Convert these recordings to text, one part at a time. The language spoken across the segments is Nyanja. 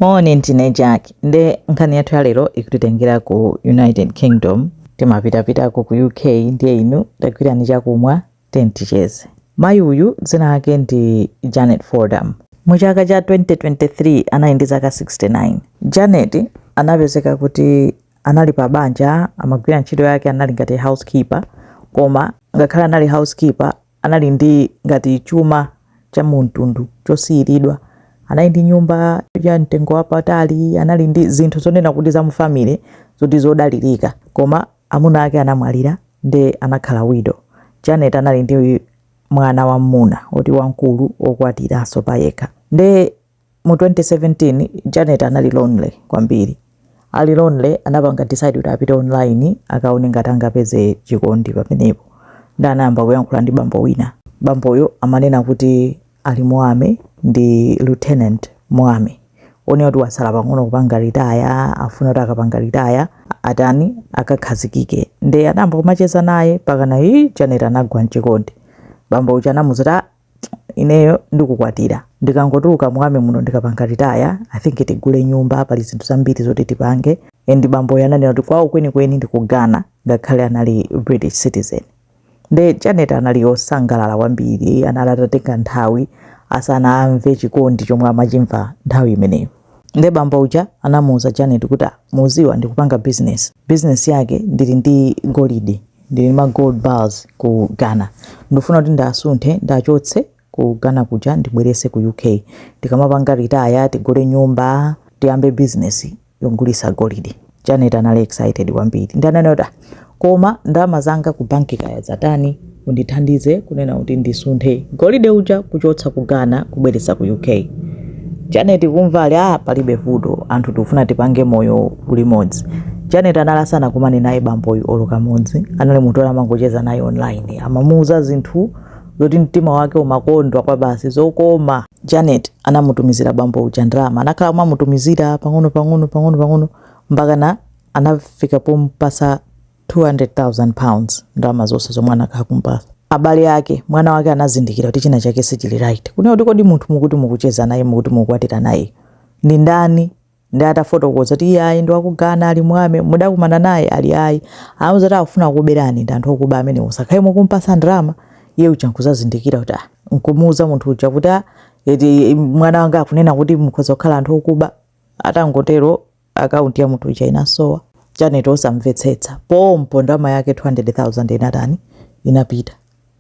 Moni ndine Jack nde nkhani yathu ya lero ikutitengera ku United Kingdom timapitapitako ku UK ndiye inu tagwirani chakumwa tenticheze mayi uyu dzina lake ndi Janet Fordham mu chaka cha 2023 anali ndi zaka 69 Janet anapezeka kuti anali pa banja amagwira ntchito yake anali ngati housekeeper koma ngakhale anali housekeeper anali ndi ngati chuma cha mu mtundu chosiyiridwa, anali ndi nyumba ya mtengo wapatali, anali ndi zinthu zonena kuti za mu family zoti zodalirika. Koma amuna ake anamwalira nde anakhala widow. Janet anali ndi mwana wammuna woti wamkulu wokwatiranso payekha. Nde Mu 2017 Janet anali lonely kwambiri. Ali lonely anapanga decide kuti apite online akaone ngati angapeze chikondi pamenepo. Nde anayamba kuyankhula ndi bambo wina. Bamboyo amanena kuti ali mu army ndi Lieutenant mu army. Wonena kuti watsala pang'ono kupanga retire, afuna kuti akapanga retire atani akakhazikike. Nde anayamba kumacheza naye mpakana ii Janet anagwa mchikondi. Bambo uja anamuuza kuti ah ineyo ndikukwatira ndikangotuluka mu army muno ndikapanga retire i think tigule nyumba pali zinthu zambiri zoti tipange and bamboyo ananena kuti kwawo kwenikweni ndi ku ghana ngakhale anali british citizen nde janet anali osangalala kwambiri anali atatenga nthawi asanamve chikondi chomwe amachimva nthawi imeneyo Nde bambo uja anamuuza Janet kuti ah muziwa ndikupanga business, business yake ndili ndi golide, ndili ndi ma gold bars ku Ghana ndufuna kuti ndiwasunthe ndiwachotse ku Ghana kuja ndibwerese ku UK ndikamapanga retire tigule nyumba tiyambe business yogulisa golide. Janet anali excited kwambiri nde ananena kuti "Ah, koma ndalama zanga ku banki kaya zatani undithandize kunena kuti ndisunthe golide uja kuchotsa ku ghana kubweretsa ku uk janet kumva ali ah palibe vuto anthu tikufuna tipange moyo ulimodzi janet anali asanakumane naye bamboyu olo kamodzi anali munthu oti amangocheza naye online amamuuza zinthu zoti mtima wake umakondwa kwabasi zokoma Janet anamutumizira bambo uja ndalama. Anakhala akumamutumizira pang'ono pang'ono pang'ono pang'ono mpakana anafika pomupatsa 200,000 pounds, ndalama zonse zomwe anakhala akumupatsa. Abale ake, mwana wake anazindikira kuti china chake sichili right. Kunena kuti kodi munthu mukuti mukucheza naye, mukuti mukukwatira nayeyu ndi ndani? Nde atafotokoza kuti iyayi ndi waku Ghana ali mu army mudakumana naye ali ayi anawauza kuti akufuna kukuberani ndi anthu okuba amenewo musakhale mukumpasa ndalama iye uja nkuzazindikira kuti ah nkumuuza munthu uja kuti ah eti mwana wanga akunena kuti mukhoza kukhala anthu okuba atangotero akaunti ya munthu uja inasowa Janet osamvetsetsa pompo ndalama yake 200,000 inatani inapita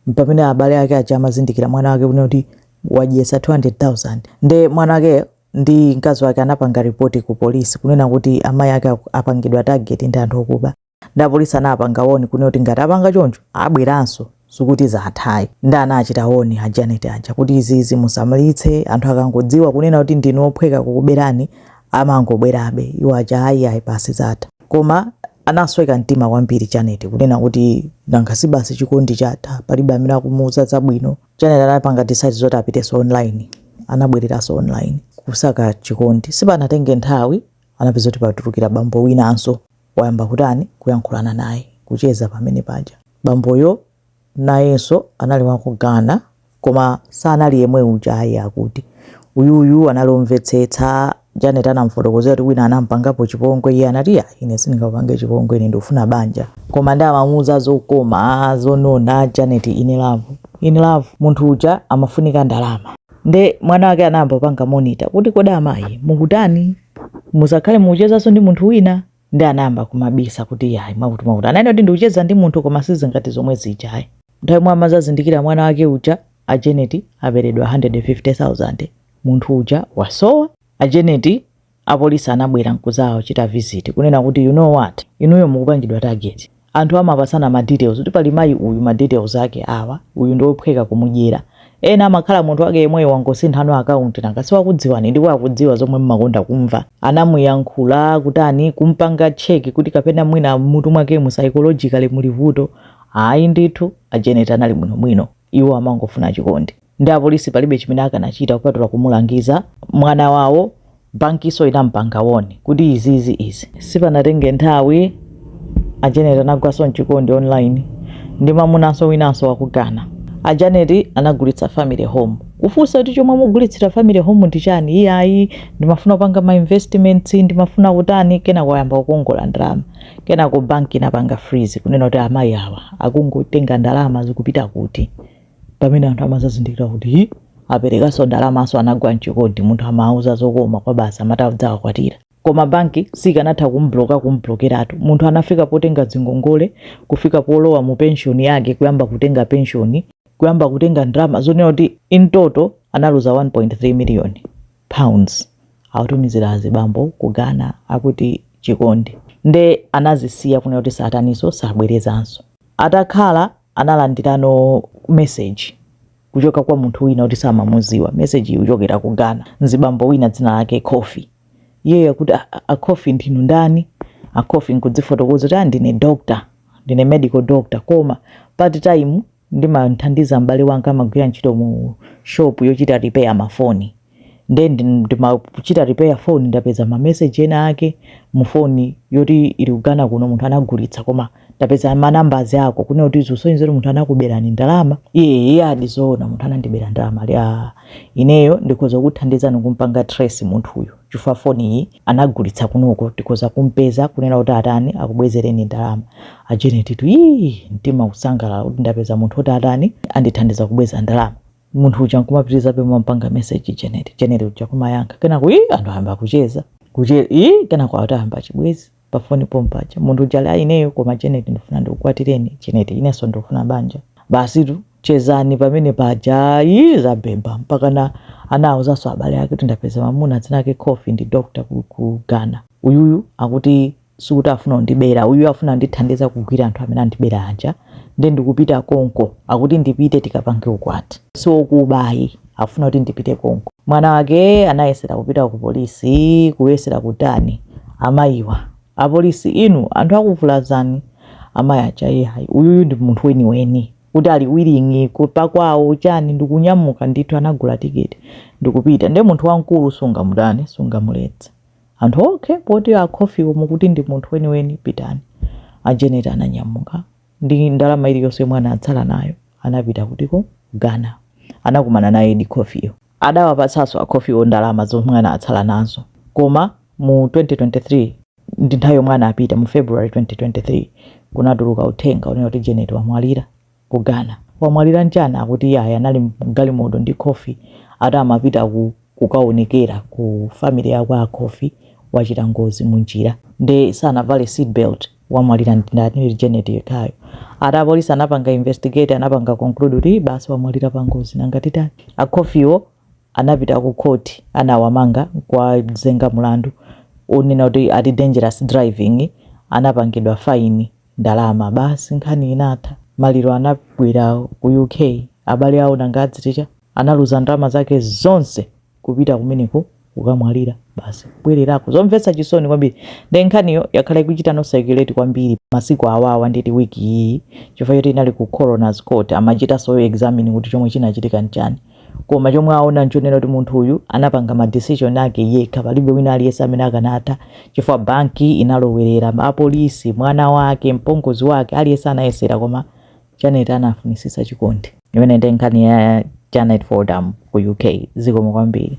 mpamene abale ake aja amazindikira mwana wake kunena kuti wadyesa 200,000 nde mwana wake ndi mkazi wake anapanga ripoti ku polisi kunena kuti amayi ake apangidwa target ndi anthu okuba nde apolisi anapanga woni kunena kuti ngati apanga choncho abweranso sikuti zathayi nde anawachita woni a Janet aja kuti izizi musamalitse anthu akangodziwa kunena kuti ndinu ophweka kukuberani amangobwerabe iwo aja ayi ayi pasi zatha koma anasweka mtima kwambiri Janet kunena kuti nanga si basi chikondi chatha palibe amene akumuuza zabwino Janet anapanga decide zoti apiteso online, anabwereranso online kusaka chikondi, sipanatenge nthawi anapeza kuti patulukira bambo winanso wayamba kutani, kuyankhulana naye, kucheza pamene paja, bamboyo nayenso anali wa ku Ghana koma sanali yemwe uja ayi akuti uyuyu anali omvetsetsa, Janet anamufotokozera kuti wina anamupangapo chipongwe, iye anati, "Ya, ine sindingakupange chipongwe, ine ndikufuna banja." Koma nde amamuuza zokoma, zonona, Janet in love. In love, munthu uja amafunika ndalama. Nde mwana wake anayamba kupanga monitor kuti, Kodi amayi mukutani? Musakhale mukuchezanso ndi munthu wina? nde anayamba kumabisa kuti yayi mwakuti mwakuti ananena kuti ndikucheza ndi munthu koma sizingati zomwe zija ayi nthawi yomwe amazazindikira mwana wake uja a Janet aberedwa 150,000 munthu uja wasowa a Janet apolisi anabwera nkuzawachita visit kunena kuti you know what inuyo mukupangidwa target anthu amapasana ma details kuti pali mayi uyu ma details ake awa uyu ndi ophweka kumudyera ena amakhala munthu wake yemweyo wangosinthano account nanga siwakudziwani ndipo akudziwa zomwe mmakonda kumva anamuyankhula kutani kumpanga check kuti kapena mwina mutu mwakemu psychologically muli vuto ayi ndithu a Janet anali bwinobwino iwo amangofuna chikondi nde apolisi palibe chimene akanachita kupatula kumulangiza mwana wawo bankiso inampanga woni kuti izizi izi sipanatenge nthawi a Janet anagwaso mchikondi online ndi mamunanso winanso wa ku Ghana a Janet anagulitsa family home kufunsa kuti chomwe mugulitsira family home ndi chani iye ayi ndimafuna kupanga ma investments ndimafuna kutani kenako ayamba kukongola ndalama kenako banki inapanga freeze kunena kuti amayi awa akungotenga ndalama zikupita kuti pamene anthu amazazindikira kuti ii aperekaso ndalamaso anagwa mchikondi munthu amawauza zokoma kwa basi amati adzawakwatira koma banki sikanatha kumbloka kumblokeratu munthu anafika potenga zingongole kufika polowa mu penshoni yake kuyamba kutenga penshoni kuyamba kutenga ndalama zonena kuti in total analuza 1.3 million pounds akutumizira azibambo ku Ghana akuti chikondi nde anazisiya kunena kuti sataniso sabwerezanso atakhala analandirano message kuchoka kwa munthu wina woti samamuziwa message ikuchokera ku Ghana nzibambo wina dzina lake Kofi iyeyo kuti a Kofi ndinu ndani a Kofi nkudzifotokoza kuti aa ndine doctor ndine medical doctor koma part time ndimamthandiza m'bale wanga amagwira ntchito mu shop yochita repair mafoni nde ndi- ndimachita repair phone ndapeza ma message ena ake mu phone yoti ili ku Ghana kuno munthu anagulitsa koma ndapeza manambazi ako kunena kuti zisonyeza kuti munthu anakuberani ndalama iye adi zoona munthu anandibera ndalama ali "Ah, ineyo ndikhoza kukuthandizani kumpanga trace munthuyu chifukwa phone iyi anagulitsa kunoko tikhoza kumpeza kunena kuti atani akubwezereni ndalama a Janet tu ii mtima kusangalala kuti ndapeza munthu oti atani andithandiza kubweza ndalama munthu uja nkumapitirizabe kumpanga message Janet Janet uja kumayankha kenako ii anthu ayamba kucheza kuche ii kenako atayamba chibwezi pa foni pompaja munthu uja ali ineyo koma Janet ndifuna ndikukwatireni Janet inenso ndikufuna banja basitu chezani pamene paja ayi zabhebha mpakana anawauzanso abale ake kuti ndapeza mamuna dzina lake Kofi ndi doctor ku, ku Ghana uyuyu akuti sikuti afuna kundibera uyu afuna ndithandiza kugwira anthu amene andibera aja nde ndikupita konko akuti ndipite tikapange ukwati siokuba ayi afuna kuti ndipite konko mwana wake anayesera kupita ku polisi kuyesera kutani amayiwa apolisi inu anthu akuvulazani amayi aja iyayi uyuyu ndi munthu weniweni kuti ali willing kupita kwawo chani ndikunyamuka ndithu anagula tiketi ndikupita nde munthu wamkulu sungamutani sungamuletse Anthu, Okay poti a Kofiwo mukuti ndi munthu weniweni pitani. A Janet ananyamuka ndi ndalama iliyonse yomwe anatsala nayo anapita kutiku? Ghana. Anakumana nayedi Kofiyo. Adawapatsanso a Kofiwo ndalama zomwe anatsala nazo koma mu 2023 ndi nthawi yomwe anapita mu February 2023 kunatuluka uthenga wonena kuti Janet wamwalira. ku Ghana. Wamwalira nchani? Akuti iyayi anali mgalimoto ndi Kofi ati amapita ku kukaonekera ku family ya kwa Kofi wachita ngozi munjira nde sanavale seat belt wamwalira ndi ndani? Janet yekhayo ati apolisi anapanga investigate anapanga conclude kuti basi wamwalira pa ngozi nanga titani? A Kofiwo anapita ku court anawamanga nkuwazenga mulandu onena kuti ati dangerous driving anapangidwa fine. ndalama basi nkhani inatha maliro anabwera ku UK abale awo nanga adziti chani analuza ndalama zake zonse kupita kumeneko kukamwalira basi kubwererako zomvetsa chisoni kwambiri nde nkhaniyo yakhala ikuchitanso circulate kwambiri masiku awawa nditi wiki iyi chifukwa choti inali ku coroner's court amachitanso examine kuti chomwe chinachitika nchani Koma chomwe aona nchonena kuti munthu uyu anapanga ma decision ake yekha, palibe wina aliyense amene akanatha chifukwa banki inalowerera, apolisi, mwana wake, mpongozi wake, aliyense anayesera koma Janet anafunisisa chikondi. Imeneyo nde nkhani ya Janet Fordham ku UK. Zikomo kwambiri.